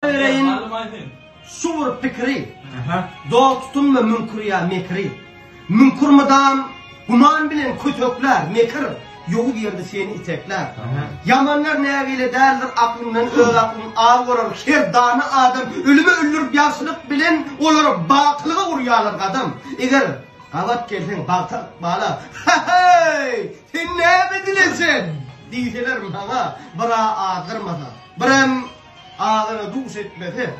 bereýin Şu bir pikiri Dost tutunma müňkür ýa mekri Müňkür mydam Guman bilen kötekler Mekir Ýowuz ýerde seni itekler Ýamanlar nägile däldir Aklyndan öz aklyn al bolar Her dana adam Ölüme öldürip ýagşylyk bilen Olary bakylyga urýarlar gadam Eger gabat gelseň bagta ykbala Heý Sen näme dileseň Diýseler maňa Bira azdyrmasa Birem agyra duş etmese,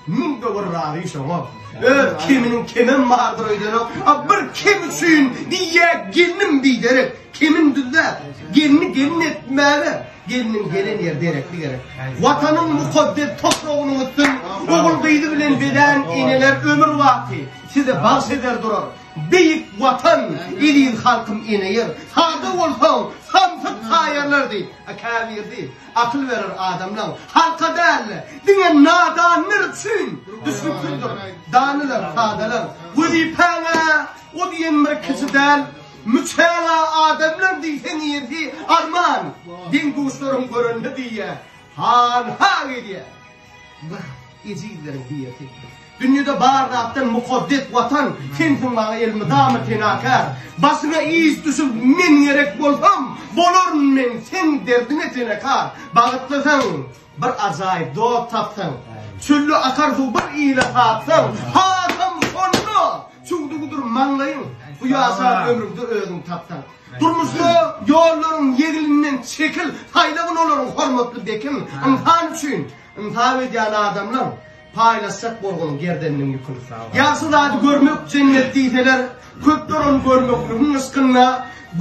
müň-de bir razy şoňa. Öz kiminiň kemem bardyr öýdenok. A bir kim üçin diýýä gelnim biderek, kimin düzde, gelni gelin etmäge, gelniň gelen ýer derekli gerek. Watanyň mukaddes topragynyň üstün, ogul gyzy bilen beden eneler ömür baky size bagş eder durar. Beýik watan, eziz halkym ene ýer. Sada bolsaň, samsyk taýarlar diýip, käbirdi. Akyl berer adamlaň halka däl-de, diňe nadanlar üçin düşnüksizdir. Danylar, sadalar, wezipäň-ä o diýen bir kiçi däl, müçäň-ä adamlar diýseň ýersi arman, deň-duşlaryň görende diýýä, han-ha edýä. Wah, ejizleriň diýesi. Dünýede bar zatdan mukaddes Watan, sensiň maňa elmydama penakär. Başyňa iş düşüp, men gerek bolsam, bolaryn men seň derdiňe tenekar. Bagtlysyň, bir ajaýyp dost tapsaň, çölde akar suw bir ile satsaň, hasam şonda çüwdügidir maňlaýyň, bu ýaşan ömrüňde özüňi tapsaň. Durmuşda ýollaryň ýeglinden çekil, saýlagyn olaryň hormatly bekin, ynsan üçin ynsap edýän adamlaň, paýlaşjak bolgun gerdeniniň ýüküni. Ýagşy zady görmek jennet diýseler, köpler ony görmekligiň yşkynda,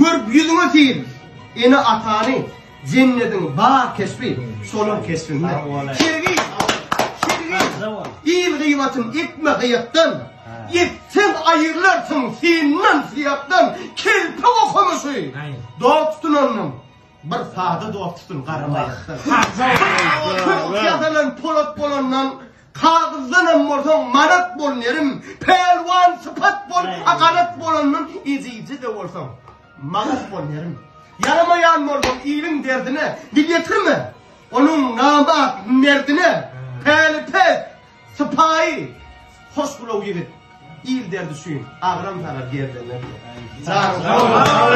görüp ýüzüňe sil, ene-atany. Jennediň bar keşbi, şonuň keşbinde. Kirgiz, kirgiz, il gyýbatyn etme gyýatdan, etseň aýyrlarsyň syndan syýakdan, kelpe okumuşy, dost tutandan, bir sada dost tutun garamaýakdan. Ýazalan polat bolandan, kagyzdan hem bolsaň manat bol nerim, pälwan sypat bol, agalat bolandan, ejiji-de bolsaň. Maraz bol ýeriň. Ýaramaýan bolsaň iliň derdine, dil ýetirme onuň namart merdine. Päli pes, sypaýy, hoşgylaw ýigit. Il derdi üçin agram salar gerdene. Sag bol!